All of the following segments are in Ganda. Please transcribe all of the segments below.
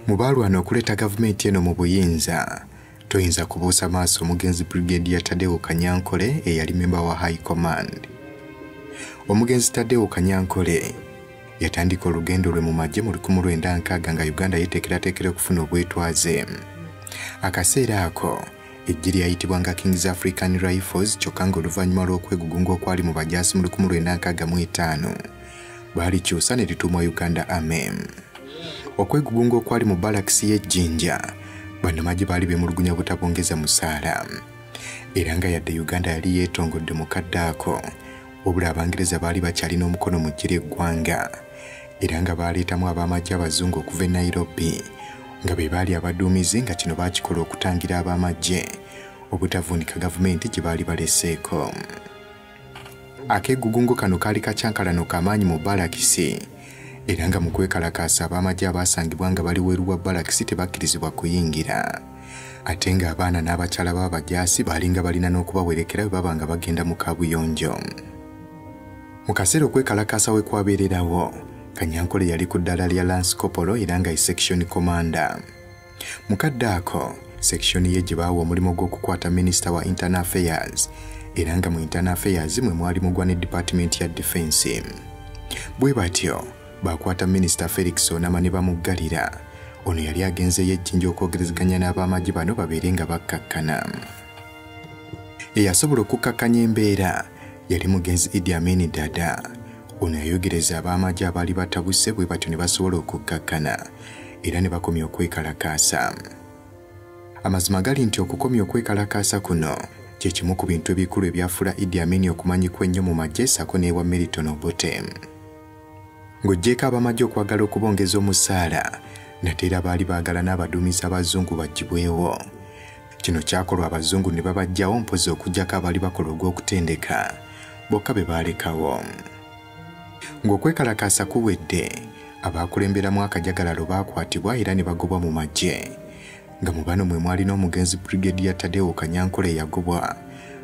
mu baalwana okuleeta gavumenti eno mu buyinza toyinza kubuusa maaso omugenzi brigade ya tadewo kanyankole eyali memba wa high command omugenzi tadewo kanyankole yatandika olugendo lwe mu magye mu 1960 nga uganda yeteekerateekera okufuna obwetwaze akaseera ako ejji lyayitibwa nga kings african rifles kyokka nga oluvannyuma lw'okwegugunga okwali mu bajaasi mu 1965 baalikyusa ne lituumwa uganda amem okwegugunga okwali mu balakisi y'ejjinja bannamagye baali beemulugunya butabongeza musaala era nga yadde uganda yali yeetongodde mu kadde ako wabula abangereza baali bakyalina omukono mu ggye ly'eggwanga era nga baaleetamu ab'amagye abazungu okuva e nairobi nga be baali abaduumizi nga kino baakikola okutangira ab'amagye obutavuunika gavumenti gye baali baleseeko Akegugungo kano kaali kakyankalano kamaanyi mu balakisi era nga mu kwekalakaasa ab'amagye abaasangibwa nga bali weeru wa balakisi tebakkirizibwa kuyingira ate ng'abaana n'abakyala b'abajaasi baalinga balina n'okubawerekera bwe baba nga bagenda mu kaabuyonjo mu kaseera okwekalakaasa we kwabeererawo kanyankole yali ku ddaala lya lansikopolo era nga ye section commander Mu kadde ako, sekishoni ye gye baawa omulimu gw'okukwata minisita wa internal affairs era nga mu internal affairs mwe mwali mugwa ne dipatimenti ya difensi. Bwe batyo baakwata minisita Felix Onama ne bamuggalira. Ono yali agenzeeyo ejjinja okwogerezeganya n'ab'amagye bano babeere nga bakkakkana. Eyasobola okukkakkanya embeera yali mugenzi Idi Amin Dada. Ono yayogereza ab'amagye abaali batabuse bwe batyo ne basobola okukkakkana era ne bakomya okwekalakaasa. Amazima gali nti okukomya okwekalakaasa kuno kye kimu ku bintu ebikulu ebyafuula Idi Amin okumanyikwa ennyo mu magye ssaako n'ewa Milton Obote. Ng'oggyeeko ab'amagye okwagala okubongeza omusaala, nate era baali baagala n'abaduumizi abazungu bagibwewo. Kino kyakolwa abazungu ne babajjawo mpozi okujjako abaali bakola ogw'okutendeka bokka be baalekawo. Ng'okwekalakaasa kuwedde, abaakulemberamu akajagalalo baakwatibwa era ne bagobwa mu magye nga mu bano mwe mwali n'omugenzi Brigadier Tadeo Kanyankole eyagobwa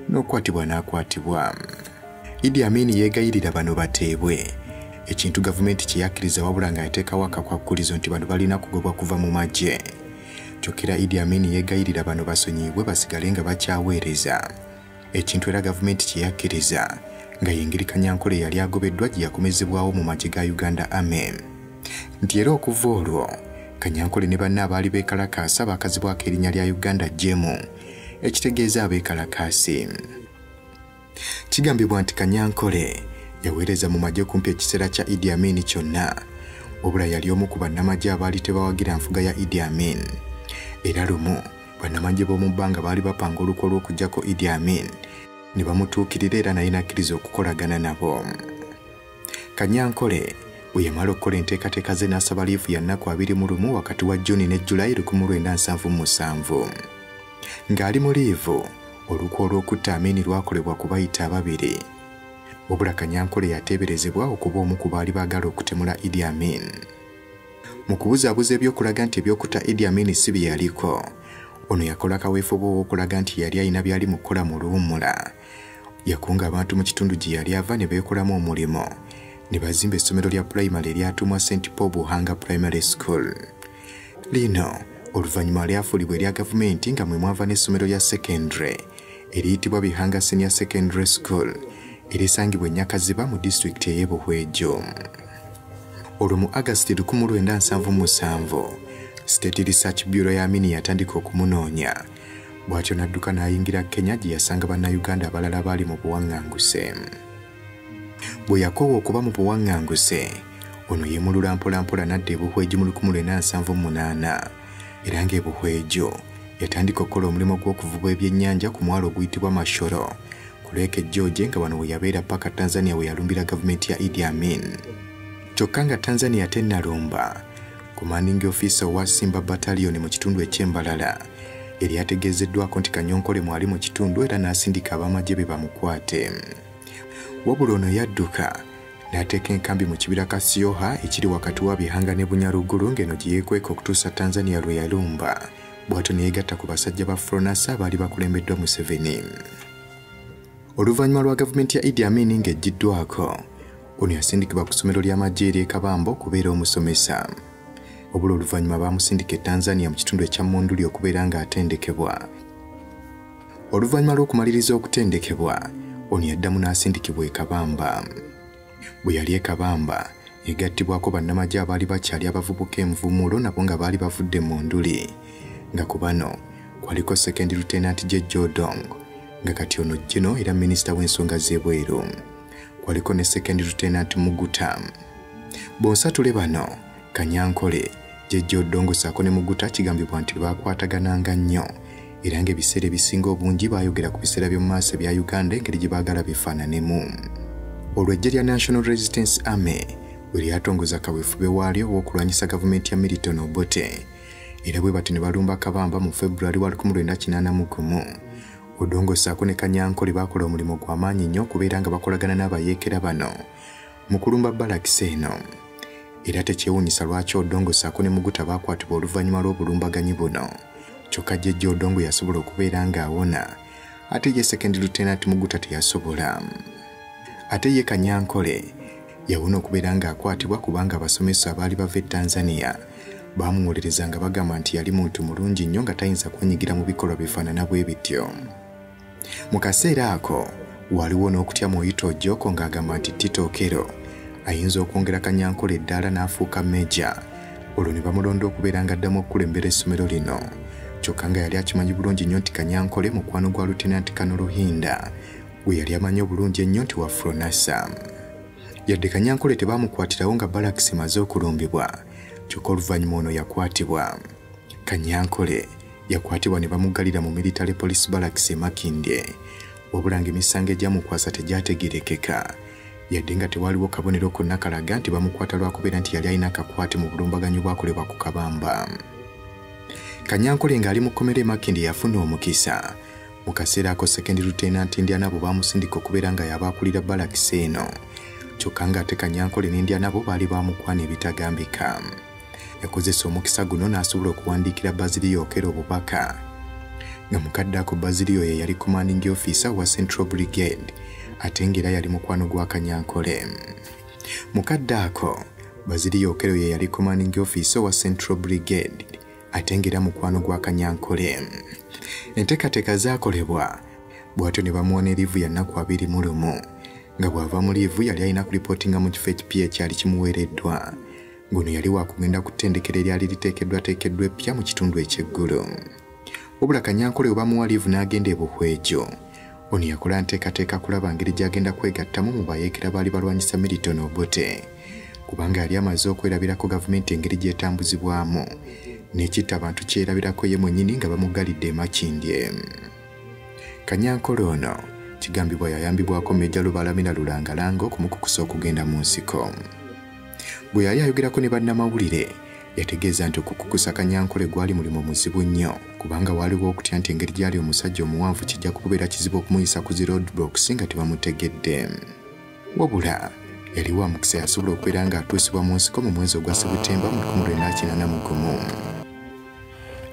n'okukwatibwa n'akwatibwa. Idi Amin yeegayirira bano bateebwe ekintu gavumenti kye yakkiriza wabula nga yateekawo akakwakkulizo nti bano balina kugobwa kuva mu magye. Kyokera Idi Amin yeegayirira bano basonyiyibwe basigale nga bakyaweereza ekintu era gavumenti kye yakkiriza nga y'engeri Kanyankole eyali agobeddwa gye yakomezebwawo mu magye ga Uganda Army nti era okuva olwo Kanyankole ne banne abaali beekalakaasa baakazibwako erinnya lya Uganda Jemu ekitegeeza abeekalakaasi. Kigambibwa nti Kanyankole yaweereza mu magye kumpi ekiseera kya Idi Amin kyonna, wabula yali omu ku bannamagye abaali tebawagira nfuga ya Idi Amin. Era lumu bannamagye b'omu bbanga baali bapanga olukwe lw'okugyako Idi Amin ne bamutuukirira era naye n'akkiriza okukolagana nabo. Kanyankole bwe yamala okukola enteekateeka ze n'asaba liivu ya nnaku abiri mu lumu wakati wa Juni ne Julayi lukumu lwenda nsanvu mu musanvu. Ng'ali mu liivu, olukwe olw'okutta Amini lwakolebwa ku bayita ababiri. Wabula Kanyankole yateeberezebwa okuba omu ku baali baagala okutemula Idi Amin. Mu kubuzaabuza eby'okulaga nti eby'okutta Idi Amin si bye yaliko, ono yakola kaweefube ow'okulaga nti yali alina byali mu kukola mu luwummula. Yakunga abantu mu kitundu gye yali ava ne beekolamu omulimu ne bazimba essomero lya pulayimale eryatuumwa St Paul Buhanga Primary School. lino oluvannyuma lyafuulibwa erya gavumenti nga mwe mwava n'essomero lya secondary eriyitibwa bihanga senior secondary school erisangibwa enyakaziba mu disitulikiti ey'e buhwejo olwo mu agasiti 1977 state research bureau ya mini yatandika okumunoonya bw'atyo n'adduka n'ayingira kenya gye yasanga bannayuganda abalala baali mu buwaŋŋanguse bwe yakoowa okuba mu buwaŋŋanguse ono yemulula mpolampola n'adda ebuhweju mu 1978 era ng'ebuhweju yatandika okukola omulimu gw'okuvuba ebyennyanja ku mwalo oguyitibwa mashoro ku lweka ejjooje nga wano we yabeera paka tanzania we yalumbira gavumenti ya idi amin kyokka nga tanzania tennalumba commanding officer owa simba bataliyoni mu kitundu eky'embalala yali ategeezeddwako nti Kanyonkole mwali mu kitundu era n'asindika ab'amagye be bamukwate. Wabula ono yadduka n'ateeka enkambi mu kibira Kasioha ekiri wakati wa Bihanga ne Bunyaruguru ng'eno gye yeekweka okutuusa Tanzania lwe yalumba bw'atyo ne yeegatta ku basajja ba Fronasa abaali bakulembeddwa Museveni. oluvannyuma lwa gavumenti ya idi amini ng'eggyiddwako ono yasindikibwa ku ssomero ly'amagye ery'e kabamba okubeera omusomesa obula oluvannyuma baamusindika e tanzania mu kitundu ekya munduli okubeera ng'atendekebwa oluvannyuma lw'okumaliriza okutendekebwa ono yaddamu n'asindikibwa e kabamba bwe yali e Kabamba egattibwako bannamagye abaali bakyali abavubuka envumuulo nabo nga baali bavudde mu nduli nga ku bano kwaliko sekendi lutenanti gye jodong nga kati ono jino era minisita w'ensonga z'ebweru kwaliko ne sekendi lutenanti muguta bonsatule bano Kanyankole, Jjajja Odongo saako ne Muguta kigambibwa nti baakwatagananga nnyo era ng'ebiseera ebisinga obungi baayogera ku biseera by'omu maaso ebya Uganda engeri gye baagala bifaananemu. Olwo eggye lya National Resistance Army bwe lyatongoza kaweefube waalyo ow'okulwanyisa gavumenti ya Milton Obote era bwe bati ne balumba Kabamba mu February wa 1981 Odongo saako ne Kanyankole baakola omulimu gw'amaanyi nnyo okubeera nga bakolagana n'abayeekera bano mu kulumba balakisi eno era tekyewuunyisa lwaki odongo saako ne muguta baakwatibwa oluvannyuma lw'obulumbaganyi buno kyokka jjejja odongo yasobola okubeera ng'awona ate ye sekendi lutenanti muguta teyasobola ate ye kanyankole yawona okubeera ng'akwatibwa kubanga abasomesa abaali bava e tanzania baamuwolereza nga bagamba nti yali muntu mulungi nnyo nga tayinza kwenyigira mu bikolwa bifaanana bwe bityo Mu kaseera ako waliwo n'okutya mu Oyita Ojoko ng'agamba nti Tito Okello ayinza okwongera Kanyankole eddaala n'afuuka meja olwo ne bamulonda okubeera ng'addamu okukulembera essomero lino kyokka nga yali akimanyi bulungi nnyo nti Kanyankole mukwano gwa Lutenanti Kano Ruhinda gwe yali amanyi obulungi ennyo nti wa Fronasa. Yadde Kanyankole tebaamukwatirawo nga balakisi emaze okulumbibwa kyokka oluvannyuma ono yakwatibwa. kanyankole yakwatibwa ne bamuggalira mu military police barracks e makindye wabula ng'emisango egyamukwasa tegyategerekeka yadde nga tewaliwo kabonero konna kalaga nti bamukwata lwakubeera nti yali alina akakwate mu bulumbaganyi obwakolebwa ku kabamba kanyankole ng'ali mu kkomera emakindi yafuna omukisa mu kaseera ako sekendi lutenanti indianabo baamusindika okubeera nga yabaakulira balakisi eno kyokka ng'ate kanyankole n'indianabo baali baamukwana ebitagambika yakozesa omukisa guno n'asobola okuwandiikira Basilio Okero obubaka nga mukadde ako Basilio ye yali commanding officer wa Central Brigade ate ng'era yali mukwano gwa Kanyankole. Mukadde ako Basilio Okero ye yali commanding officer wa Central Brigade ate ng'era mukwano gwa Kanyankole. Enteekateeka zaakolebwa bw'atyo ne bamuwa ne liivu ya nnaku abiri mu lumu nga bw'ava mu liivu yali alina kulipootinga mu kifo ekipya ekyali kimuweereddwa. Guno yali wakugenda ku ttendekero eryali liteekeddwateekeddwa eppya mu kitundu eky'eggulu. Wabula Kanyankole we bamuwa liivu n'agenda e Buhwejo. Ono yakola nteekateeka kulaba ngeri gy'agenda kwegattamu mu bayeekera baali balwanyisa Milton Obote kubanga yali amaze okwerabirako gavumenti engeri gy'etambuzibwamu n'ekitta abantu kyerabirako ye mwennyini nga bamuggalidde e Makindye. Kanyankole ono kigambibwa yayambibwako Meja Lubalamira Lulangalanga okumukukusa okugenda mu nsiko. Bwe yali ayogerako ne bannamawulire, yategeeza nti okukukusa Kanyankole gwali mulimu muzibu nnyo kubanga waaliwo okutya nti engeri gy'ali omusajja omuwanvu kijja kukubeera kizibu okumuyisa ku zi roadblocks nga tebamutegedde wabula yali wa mukisa yasobola okubeera ng'atuusibwa mu nsiko mu mwezi ogwa sebutemba mu 1981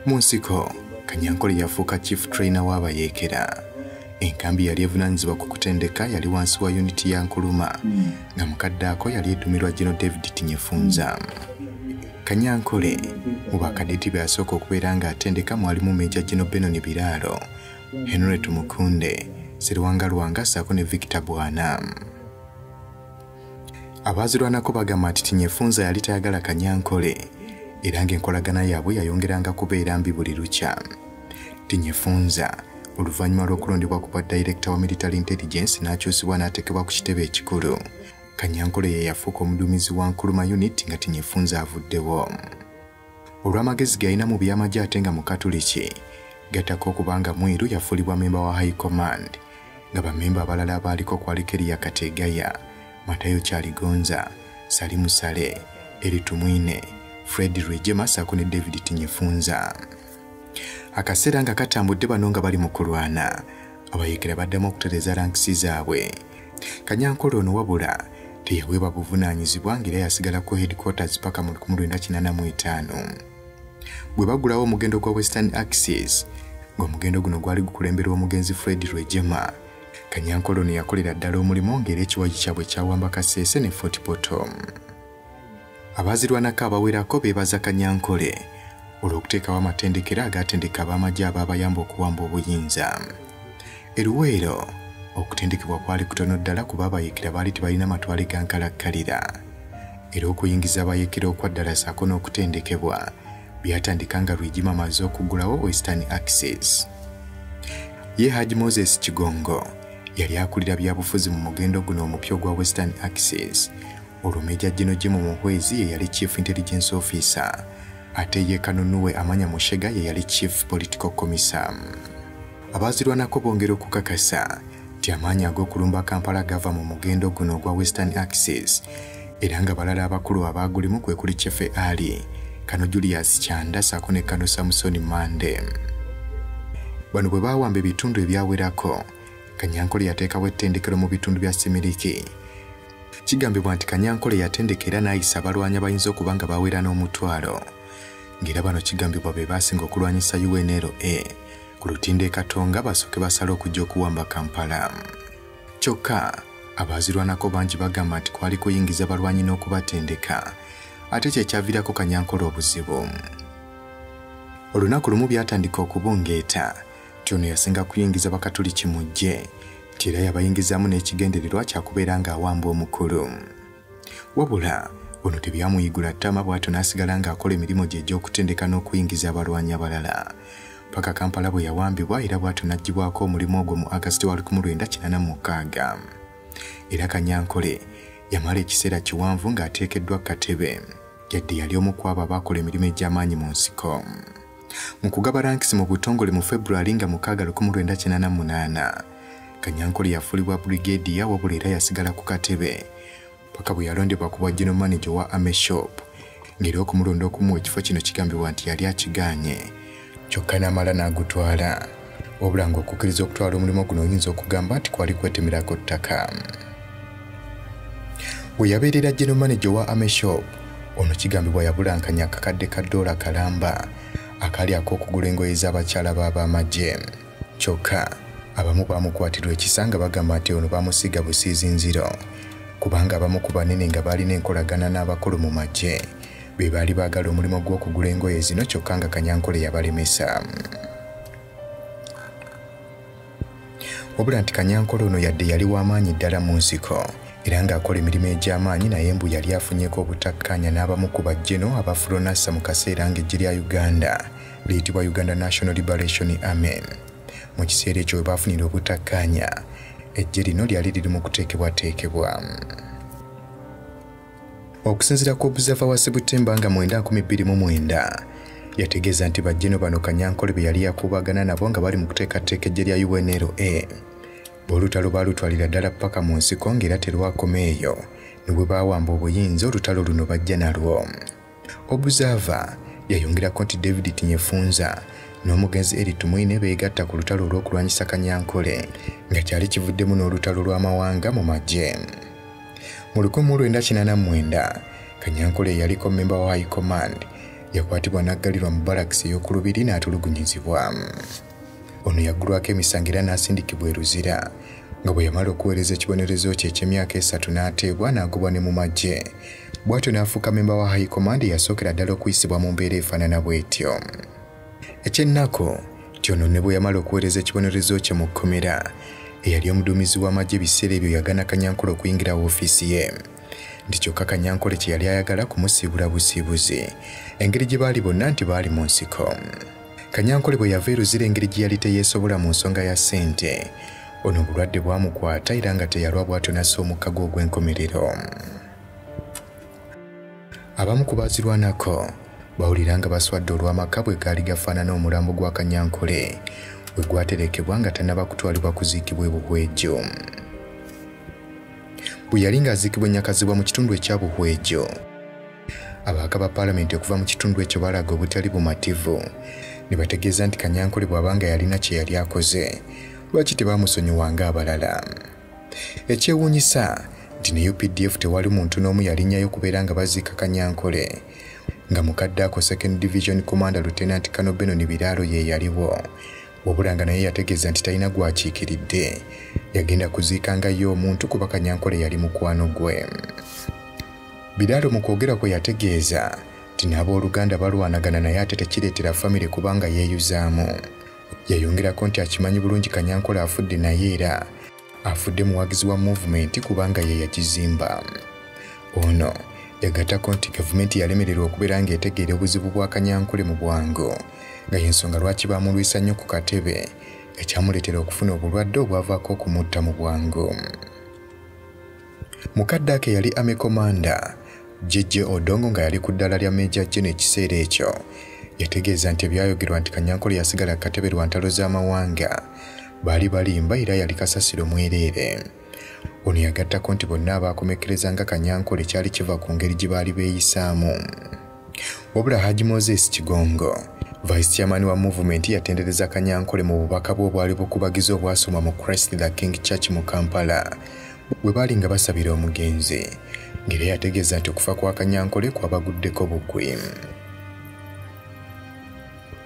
mu nsiko kanyankole yafuuka chief trainer w'abayeekera enkambi yali evunaanyizibwa ku kutendeka yali wansi wa yuniti ya nkuluma nga mukaddaako yali edumirwa gino david tinyefunza kanyankole mu bakadeti be asooka okubeera ng'atendeka mwalimu meja gino benoni biraalo henry tumukunde siriwanga lwanga ssaako ne victor bwana abaazirwanako bagamba nti tinyefunza yali tayagala kanyankole era ng'enkolagana yaabwe yayongeranga kubeera mbi buli lukya tinyefunza oluvannyuma lw'okulondebwa ku bwa dayirekita wa military intelligence n'akyusibwa n'atekebwa ku kitebe ekikulu kanyankole ye yafuuka omuduumizi wa nkuluma unit nga tinyefunza avuddewo olw'amagezi galina mu by'amagye ate nga mukatuliki gattako okuba nga mwiru yafuulibwa memba wa high command nga bamemba abalala abaaliko kwaliko eriya kateegaya matayo kyaligonza sali musale eri tumwine fred rwejema saako ne david tinyefunza akaseera nga katambudde bano nga bali mu kulwana abayekera baddamu okutereeza lankisi zaabwe kanyankole ono wabula teyaweebwa buvunaanyizibwa ng'era yasigala ku headquarters paka mu 1985 bwe bagulawo omugendo gwa western axis ng'omugendo guno gwali gukulemberwa omugenzi fred rwejema kanyankole ono yakolera ddala omulimu ng'era ekiwaji kyabwe kyawamba kaseese ne fort potom Abaazirwanako abawerako beebaza Kanyankole olw'okuteekawo amatendekero agaatendeka ab'amagye abaabayamba okuwamba obuyinza. E Luweero, okutendekebwa kwali kutono ddala kuba abayekera baali tebalina matwale ga nkalakkalira. Era okuyingiza abayekera okwaddala ssaako n'okutendekebwa byatandika nga Rwigima amaze okuggulawo Western Access. Ye Haji Moses Kigongo yali akulira byabufuzi mu mugendo guno omupya ogwa Western Access olwo meja jino jimu muhwezi ye yali chief intelligence officer ate ye kanunuwe amanya mushega ye yali chief political commissar abaazirwanako bongera okukakasa nti amaanyi ag'okulumba kampala gava mu mugendo guno ogwa western axis era nga balala abakulu abaagulimu kwe kuli chefe ali kano julius kyanda saako ne kano samusoni mande bano bwe baawamba ebitundu ebyawerako kanyankole yateekawo ettendekero mu bitundu bya simiriki Kigambibwa nti Kanyankole yatendeka era n'ayisa abalwanyi abayinza okuba nga bawera n'omutwalo ng'era bano kigambibwa be baasinga okulwanyisa UNLA ku lutindo e Katonga basooke basale okujja okuwamba Kampala. Kyokka abaazirwanako bangi bagamba nti kwali kuyingiza balwanyi n'okubatendeka ate kye kyaviirako Kanyankole obuzibu. Olunaku lumu byatandika okubungeeta nti ono yasinga kuyingiza bakatuliki mu ggye nti era yabayingizaamu n'ekigendererwa kyakubeera ng'awamba omukulu wabula ono tebyamuyigula ttama bw'atyo n'asigala ng'akola emirimu gye egy'okutendeka n'okuyingiza abalwanyi abalala paka kampala bwe yawambibwa era bw'atyo n'aggyibwako omulimu ogwo mu agasiti wa 1986 era kanyankole yamala ekiseera kiwanvu ng'ateekeddwa ku katebe yadde yali omu kwabo abaakola emirimu egy'amaanyi mu nsiko mu kugaba rankisi mu butongole mu february nga 698 kanyankole yafulibwa brigadiya wabula era yasigala ku katebe paka bwe yalondebwa ku bwa general manager wa ame shop ng'era okumulonda okumuwa ekifo kino kigambibwa nti yali akigaanye kyokka n'amala n'agutwala wabula ng'okukkiriza okutwala omulimu guno oyinza okugamba nti kwali kwetemerako ttaka we yabeerera general manager owa ameshop ono kigambibwa yabulankanya akakadde ka doola kalamba akali ak'okugula engoye z'abakyala b'ab'amagye kyokka abamu baamukwatirwa ekisa nga bagamba nti ono baamusiiga busiizinziro kubanga abamu ku banene nga baalina enkolagana n'abakulu mu magye be baali baagala omulimu gw'okugula engoye zino kyokka nga kanyankole yabalemesa wabula nti kanyankole ono yadde yali w'amaanyi ddala mu nsiko era ng'akola emirimu egy'amaanyi naye mbu yali afunyeko obutakkaanya n'abamu ku bajjeno aba furonassa mu kaseera ng'eggye lya uganda liyitibwa uganda national liberation army mu kiseera ekyo we baafunira obutakkaanya eggye lino lyali liri mu kuteekebwateekebwa Okusinzira ku observer wa September nga 9,2009 yategeeza nti bajjeno bano Kanyankole be yali yakuubagana nabo nga bali mu kuteekateeka eggye lya UNLA bw'olutalo baalutwalira ddala ppaka mu nsiko ng'era terwakoma eyo ne bwe baawamba obuyinza olutalo luno bajja nalwo. Observer yayongerako nti David Tinyefunza n'omugenzi Eli Tumwine beegatta ku lutalo olw'okulwanyisa Kanyankole nga kyali kivuddemu n'olutalo lw'amawanga mu magye. Mu lukumi mu lwenda kinaana mwenda Kanyankole eyaliko mmemba wa High Command yakwatibwa n'aggalirwa mu balakisi ey'oku lubiri n'atulugunyizibwa. ono yaggulwako emisango era n'asindikibwa e luzira nga bwe yamala okuweereza ekibonerezo kye eky'emyaka esatu n'ateebwa n'agobwa ne mu magye bw'atyo n'afuuka memba wa high command eyasookera ddala okuyisibwa mu mbeera efaanana bw'etyo ekyennaku nti ono ne bwe yamala okuweereza ekibonerezo kye mu kkomera eyali omuduumizi w'amagye ebiseera ebyo yagana kanyankole okuyingira woofiisi ye nti kyokka kanyankole kye yali ayagala kumusiibula busiibuzi engeri gye baali bonna nti baali mu nsiko Kanyankole bwe yava e Luzira engeri gye yali teyeesobola mu nsonga ya ssente, ono obulwadde bwamukwata era nga teyalwa bwatonasa omukka gwe ogw'enkomerero. Abamu ku baazirwanako bawulira nga baswadde olw'amaka bwe gaali gafaanana omulambo gwa Kanyankole we gwaterekebwa nga tannaba kutwalibwa kuziikibwa ebuhwejo. Bwe yali ng'aziikibwa ennyakazibwa mu kitundu ekya buhwejo, Ababaka ba Palamenti okuva mu kitundu ekyo balaga obutali bumativu ne bategeeza nti Kanyankole bw'aba nga yalina kye yali akoze lwaki tebaamusonyiwa ng'abalala. Ekyewuunyisa nti ne UPDF tewali muntu n'omu yalinnyayo okubeera nga baziika Kanyankole nga mukadde ako Second Division Commander Lieutenant Kano Benon Biraalo ye yaliwo wabula nga naye yategeeza nti talina gwakiikiridde yagenda kuziika nga ye omuntu kuba kanyankole yali mukwano gwe biraalo mu kwogera kwe yategeeza nti n'abooluganda balwanagana naye ate tekireetera famire kubanga yeeyuzaamu yayongerako nti akimanyi bulungi kanyankole afudde naye era afudde muwagizi wa movement kubanga ye yakizimba ono yagatako nti gavumenti yalemererwa okubeera ng'etegeera obuzibu bwa kanyankole mu bwangu nga y'ensonga lwaki baamulwisa nnyo ku katebe ekyamuleetera okufuna obulwadde obwavaako okumutta mu bwangu Mukadde ake yali Army Commander JJ Odongo nga yali ku ddala lya Major Gen ekiseera ekyo yategeeza nti ebyayogerwa nti Kanyankole yasigala katebe lwa ntalo z'amawanga baali balimba era yali kasasiro mwereere. Ono yagattako nti bonna abaakomekkereza nga Kanyankole kyali kiva ku ngeri gye baali beeyisaamu. wabula haji moses kigongo vice chairman wa movement yatendereza kanyankole mu bubaka bwe obwali bukubagiza obwasoma mu christ the king church mu kampala bwe baali nga basabira omugenzi ngeri yategeeza nti okufa kwa kanyankole kwabaguddeko bukwi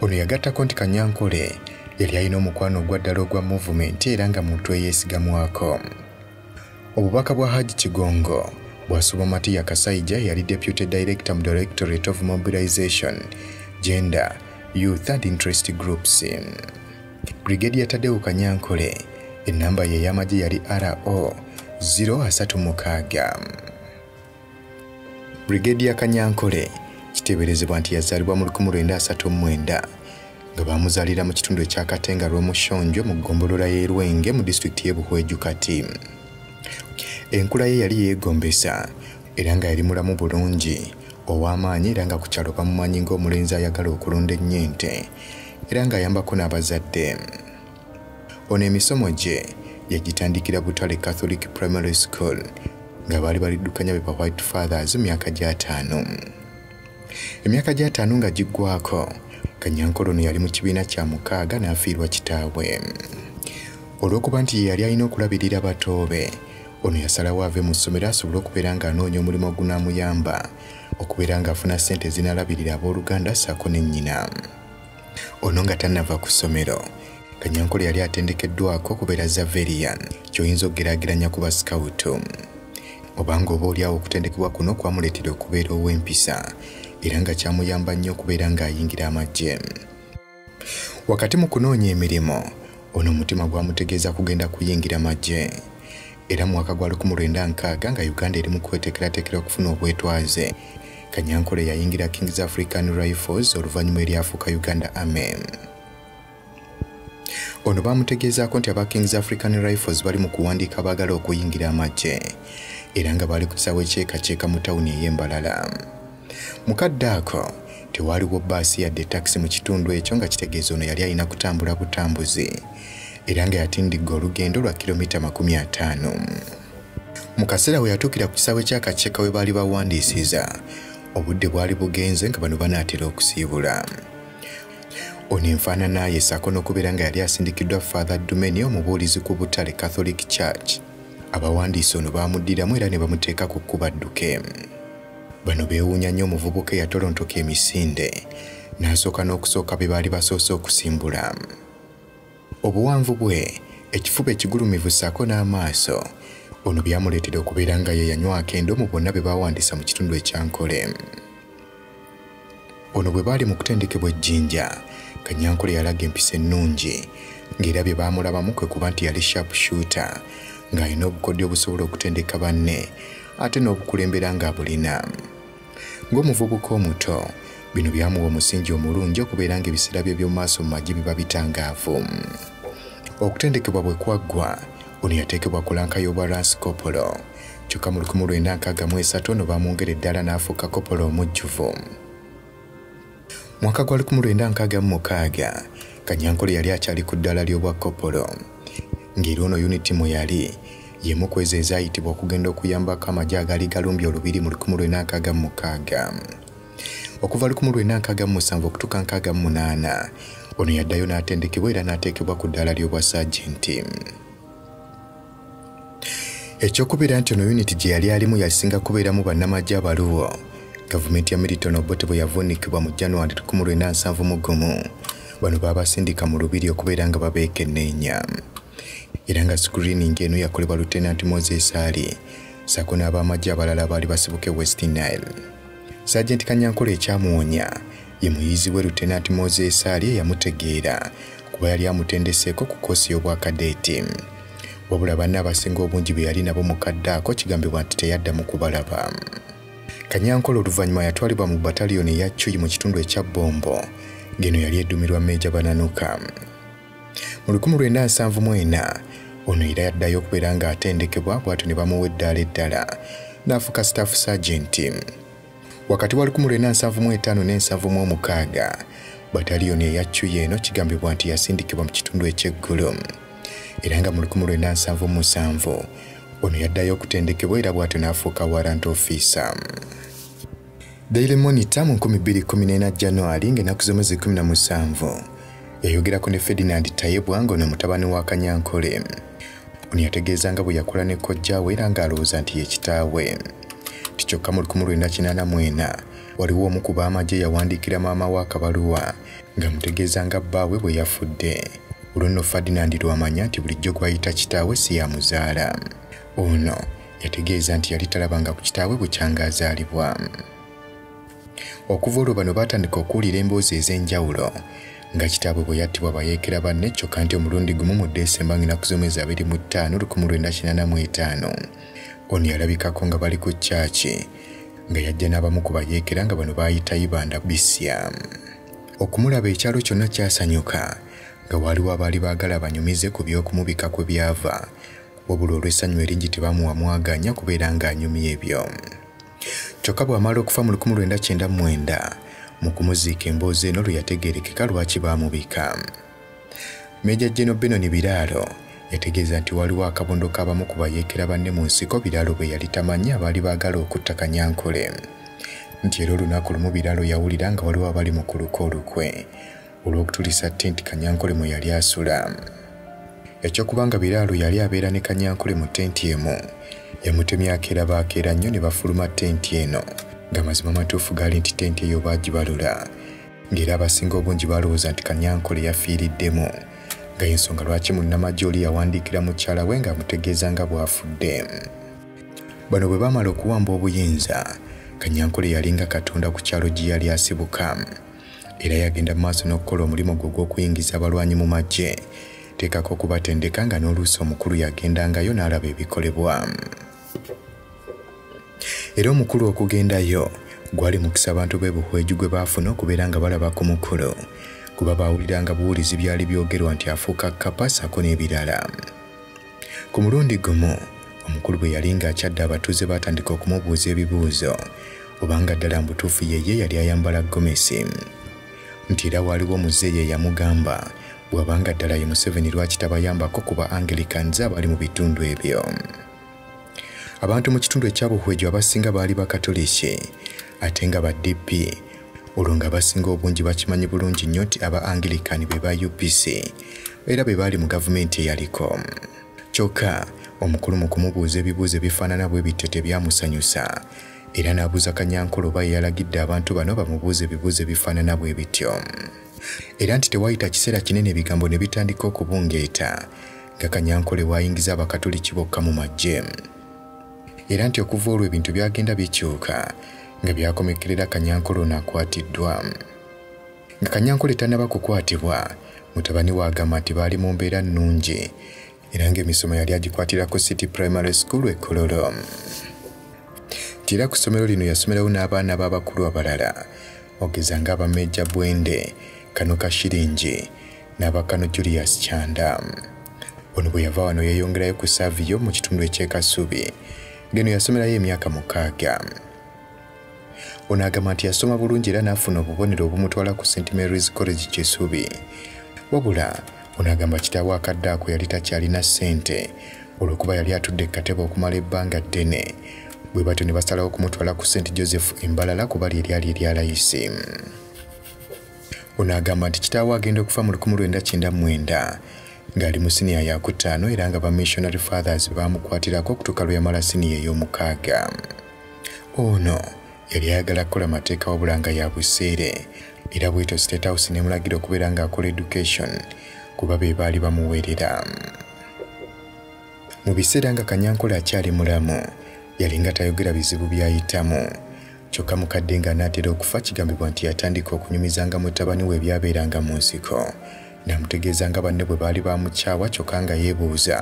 ono yagattako nti kanyankole yali alina omukwano ogwaddala ogwa movement era nga muntu eyesigamwako Obubaka bwa Hajj Kigongo bwasubwa Matiya Kasaija yali Deputy Director mu Directorate of Mobilization, Gender, Youth and Interest Groups. Brigadier Tadeu Kanyankole ennamba ye ey'amagye yali RO 036. Brigadier Kanyankole kiteeberezebwa nti yazaalibwa mu 1939 nga baamuzaalira mu kitundu ekya Katenga Rwomushonjo mu ggombolola y'e Lwenge mu disitulikiti y'e Buhweju kati. Enkula ye yali yeegombesa era nga yali mulamu bulungi ow'amaanyi era nga ku kyalo bamumanyi ng'omulenzi ayagala okulunda ennyo ente era ng'ayambako n'abazadde. Ono emisomo gye yagitandikira Butale Catholic Primary School nga baali baliddukanya be ba White Fathers myaka gy'ataano. Emyaka gy'ataano nga giggwako, Kanyankole ono yali mu kibiina kya mukaaga n'afiirwa kitaawe. Olw'okuba nti ye yali alina okulabirira batoobe, ono yasalawo ave mu ssomero asobole okubeera ng'anoonya omulimu ogunaamuyamba okubeera ng'afuna ssente ezinaalabirira abooluganda ssaako ne nnyina. ono nga tannava ku ssomero kanyankole yali atendekeddwako okubeera zaverian kyoyinza okugeraageranya ku basikawutu obanga oba olyawo okutendekebwa kuno kwamuleetera okubeera ow'empisa era nga kyamuyamba nnyo okubeera ng'ayingira amagye wakati mu kunoonya emirimu ono omutima gwamutegeeza kugenda kuyingira magye era mu mwaka gwa 1960 nga Uganda eri mu kweteekerateekera okufuna obwetwaze Kanyankore yayingira Kings African Rifles oluvannyuma eryafuuka Uganda Army. Ono baamutegeezaako nti aba Kings African Rifles bali mu kuwandiika abaagala okuyingira amagye era nga baali ku kisaawe kyekakyeka mu tawuni ey'embalala. Mu kadde ako tewaaliwo bbaasi yadde takisi mu kitundu ekyo nga kitegeeza ono yali alina kutambula butambuzi era nga yatindigga olugendo lwa kilomita makumi ataano. Mu kaseera we yatuukira ku kisaawe ky'akakiika we baali bawandiisiza obudde bwali bugenze nga bano banaatera okusiibula ono enfaanana ye saako n'okubeera nga yali asindikiddwa father dumeni omubuulizi ku butale catholic church abawandiisi ono baamuddiramu era ne bamuteeka ku kkuba dduke Bano beewuunya nnyo omuvubuka eyatolontoka emisinde n'asooka n'okusooka be baali basoose okusimbula. Obuwanvu bwe, ekifuba ekigulumivu ssaako n'amaaso, ono byamuleetera okubeera nga ye yanywako endo mu bonna be baawandiisa mu kitundu ekyankole. Ono bwe baali mu kutendekebwa ejjinja, Kanyankole yalaga empisa ennungi ng'era bye baamulabamu kwe kuba nti yali sharp shooter ng'alina obukodyo obusobola okutendeka banne ate n'obukulembera ng'abulina. Ng'omuvubuka omuto, bino byamuwa omusingi omulungi okubeera ng'ebiseera bye by'omu maaso mu magye biba bitangaavu. Okutendekebwa bwe kwaggwa, ono yateekebwa ku lanka y'obwa Ransikopolo. kyokka mu 1963 ono baamwongera eddala n'afuuka kopola omujjuvu mwaka gwa 1966 kanyankole yali akyali ku ddala ly'obwa kopolo ng'era ono yuniti mwe yali yemu ku ezo ezaayitibwa okugenda okuyambako amagye agaali galumbye olubiri mu 1966 okuva 1967 okutuuka 68 ono yaddayo n'atendekebwa era n'ateekebwa ku ddaala ly'obwa saajenti ekyokubeera nti ono yuniti gye yali alimu yasinga kubeeramu bannamagye abaluwo gavumenti ya milton obote bwe yavuunikibwa mu january 19 mu gumu bano baabasindika mu lubiri okubeera nga babeekenneenya era nga sikuriini ng'eno yakolebwa lutenanti moses ali saako n'abamagye abalala abaali basibuke west nile Sajenti Kanyankole ekyamuwonya ye muyizi we Lutenanti Moses Ali eyamutegeera kuba yali amutendeseeko ku koosi y'obwakadeeti. Wabula banna abasinga obungi be yali nabo mu kadde ako kigambibwa nti teyaddamu kubalaba. Kanyankole oluvannyuma yatwalibwa mu bataliyoni eya Cuyi mu kitundu ekya Bombo ng'eno yali eddumirwa Meeja Bananuka. Mu 1974 ono era yaddayo okubeera ng'atendekebwa bw'atyo ne bamuwa eddaala eddala n'afuka staff sergeant. Wakati wa 1975 ne 1976 bataliyoni eya Cuya eno kigambibwa nti yasindikibwa mu kitundu eky'eggulu era nga mu 1977 ono yaddayo okutendekebwa era bw'atyo n'afuuka warrant officer. Daily Monitor mu 2014 January ng'ennaku z'omwezi 17 yayogerako ne Ferdinand Tayebwa ng'ono mutabani wa Kanyankole. Ono yategeeza nga bwe yakula ne kojjaawe era ng'alowooza nti ye kitaawe. Ti kyokka mu 1984 waliwo omu ku baamagye yawandiikira maama wa Kabaluwa ng'amutegeeza nga bbaawe bwe yafudde. Olwo nno Ferdinand lwamanya nti bulijjo gw'ayita kitaawe si yamuzaala. Ono yategeeza nti yali talabanga ku kitaawe bukyanga azaalibwa okuva olwo bano baatandika okuwulira emboozi ez'enjawulo nga kitaabwe bwe yattibwa bayeekera banne kyokka nti omulundi gumu mu desemba ng'enaku z'omwezi abiri mu ttaano lukumu lwenda kinana mu etaano ono yalabikako nga bali ku kyaki nga yajja n'abamu ku bayeekera nga bano baayita ibanda bisya okumulaba ekyalo kyonna kyasanyuka nga waaliwo abaali baagala banyumize ku by'okumubika kwe byava wabula olw'essanyu eringi tebamuwa mwagaanya kubeera ng'anyumya ebyo kyokka bw'amala okufa mu 1999 mu kumuziika emboozi eno lwe yategeerekeka lwaki baamubika meja jeno benoni biraalo yategeeza nti waliwo akabondo k'abamu ku bayeekera banne mu nsiko biraalo bwe yali tamanyi abaali baagala okutta kanyankole nti era olunaku lumu biraalo yawulira nga waliwo abali mu kuluka olukwe olw'okutulisa tenti Kanyankole mwe yali asula. Ekyokuba nga Biraalo yali abeera ne Kanyankole mu tenti emu, yamutemya akeera baakeera nnyo ne bafuluma tenti eno nga mazima matuufu gaali nti tenti eyo baagibalula ng'era abasinga obungi baalowooza nti Kanyankole yafiiriddemu nga y'ensonga lwaki munnamagye oli yawandiikira mukyala we ng'amutegeeza nga bw'afudde. Bano bwe baamala okuwamba obuyinza, Kanyankole yalinga katonda ku kyalo gye yali asibuka. era yagenda mu maaso n'okukola omulimu gwe ogw'okuyingiza abalwanyi mu magye teekako okubatendeka nga n'oluusi omukulu yagendangayo n'alaba ebikolebwa era omukulu okugendayo gwali mukisa abantu b'e buhweju gwe baafuna okubeera nga balaba ku mukulu kuba baawuliranga buwulizi byali byogerwa nti afuuka kapasako n'ebirala Ku mulundi gumu omukulu bwe yali ng'akyadde abatuuze baatandika okumubuuza ebibuuzo obanga ddala mbutuufu yeye yali ayambala gomesi nti era waaliwo muzeeyi eyamugamba bw'abanga ddala ye museveni lwaki tabayambako kuba anglicanze abali mu bitundu ebyo Abantu mu kitundu ekya Buhweju abasinga baali Bakatoliki ate nga ba DP olwo nga abasinga obungi bakimanyi bulungi nnyo nti aba Anglican be ba UPC era be baali mu gavumenti eyaliko. Kyokka omukulu mu kumubuuza ebibuuzo ebifaanana bwe bityo tebyamusanyusa era n'abuuza Kanyankole oba yeyalagidde abantu bano bamubuuze ebibuuzo ebifaanana bwe bityo era nti tewayita kiseera kinene ebigambo ne bitandika okubungeeta nga Kanyankole waayingiza Abakatoliki bokka mu maggye era nti okuva olwo ebintu byagenda bikyuka nga byakomekkerera Kanyankole ono akwatiddwa. Nga Kanyankole tannaba kukwatibwa, mutabani we agamba nti baali mu mbeera nnungi era ng'emisomo yali agikwatira ku City Primary School e Kololo. Nti era ku ssomero lino yasomerawo n'abaana b'abakulu abalala ogeza ng'aba Meeja Bwende, Kanuka Shiringi, n'abakano Julius Kyanda. Ono bwe yava wano yeeyongerayo ku Savio mu kitundu eky'e Kasubi ng'eno yasomerayo emyaka mukaaga. Ono agamba nti yasoma bulungi era n'afuna obubonero obumutwala ku St Mary's College Kisubi. Wabula ono agamba kitaawe akadde ako yali takyalina ssente olw'okuba yali atudde katebe okumala ebbanga ddene bwe batyo ne basalawo okumutwala ku St Joseph Embalala kuba lye lyali erya layisi. Ono agamba nti kitaawe agenda okufa mu 1999 ng'ali mu siniya ya kutaano era nga ba missionary fathers baamukwatirako okutuuka lwe yamala siniya ey'omukaaga. Ono yali ayagala kukola mateeka wabula nga ya buseere era bwetyo state house nemulagira okubeera ng'akola education kuba be baali bamuweerera mu biseera nga kanyankole akyali mulamu yalinga tayogera bizibu by'ayitamu Kyokka mukadde ng'anaatera okufa kigambibwa nti yatandika okunyumizanga mutabani we ebyabeeranga mu nsiko n'amutegeeza nga banne bwe baali baamukyawa kyokka nga yeebuuza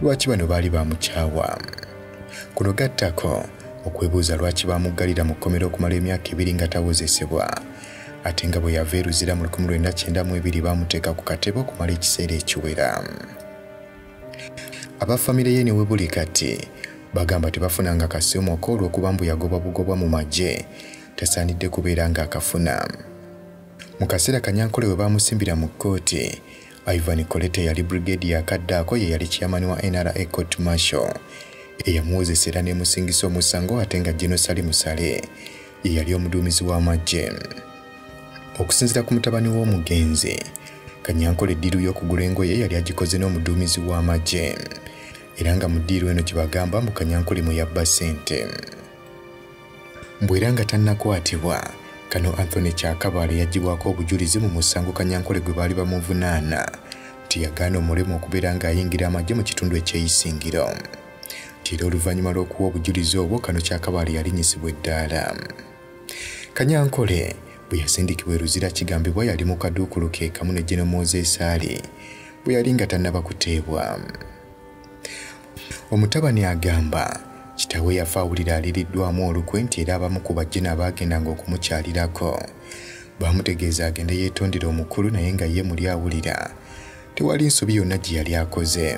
lwaki bano baali baamukyawa kuno gattako okwebuuza lwaki baamuggalira mu kkomera okumala emyaka ebiri nga tawozesebwa ate nga bwe yava eruzira mu 1992 baamuteeka ku katebe okumala ekiseera ekiwera Aba famire ye ne webuli kati bagamba tebafunanga kasiomoka olw'okuba mbu yagobwa bugobwa mu magye tasaanidde kubeera ng'akafuna. Mu kaseera Kanyankole we baamusimbira mu kkooti, Ivan Kolete yali brigade ya kaddaako ye yali chairman wa NRA Court Marshal eyamuwozesa era n'emusingisa omusango ate nga General Sali Musale ye yali omuduumizi w'amaggye okusinzira ku mutabani w'omugenzi kanyankole eddiiru y'okugula engoye yali agikoze n'omuduumizi w'amaggye era nga mu ddiiru eno gye bagamba mbu kanyankole mwe yabba ssente mbu era nga tannakwatibwa kano anthony kyakabaale yagibwako obujulizi mu musango kanyankole gwe baali bamuvunaana nti yagaana omulemu okubeera ng'ayingira amagye mu kitundu ekyeyisingiro nti era oluvannyuma lw'okuwa obujulizi obwo kano kyakabaale yalinyisibwa eddaala kanyankole bwe yasindikibwa eruzira kigambibwa yali mu kaduukulu ke kamu ne geno mozesaali bwe yali nga tannaba kuteebwa omutabani agamba kitawe yafa awulira aliriddwamu olukwe nti era abamu ku bajjina abaagendanga okumukyalirako baamutegeeza agende yeetondera omukulu naye nga ye muli awulira tewali nsobi yonna gye yali akoze.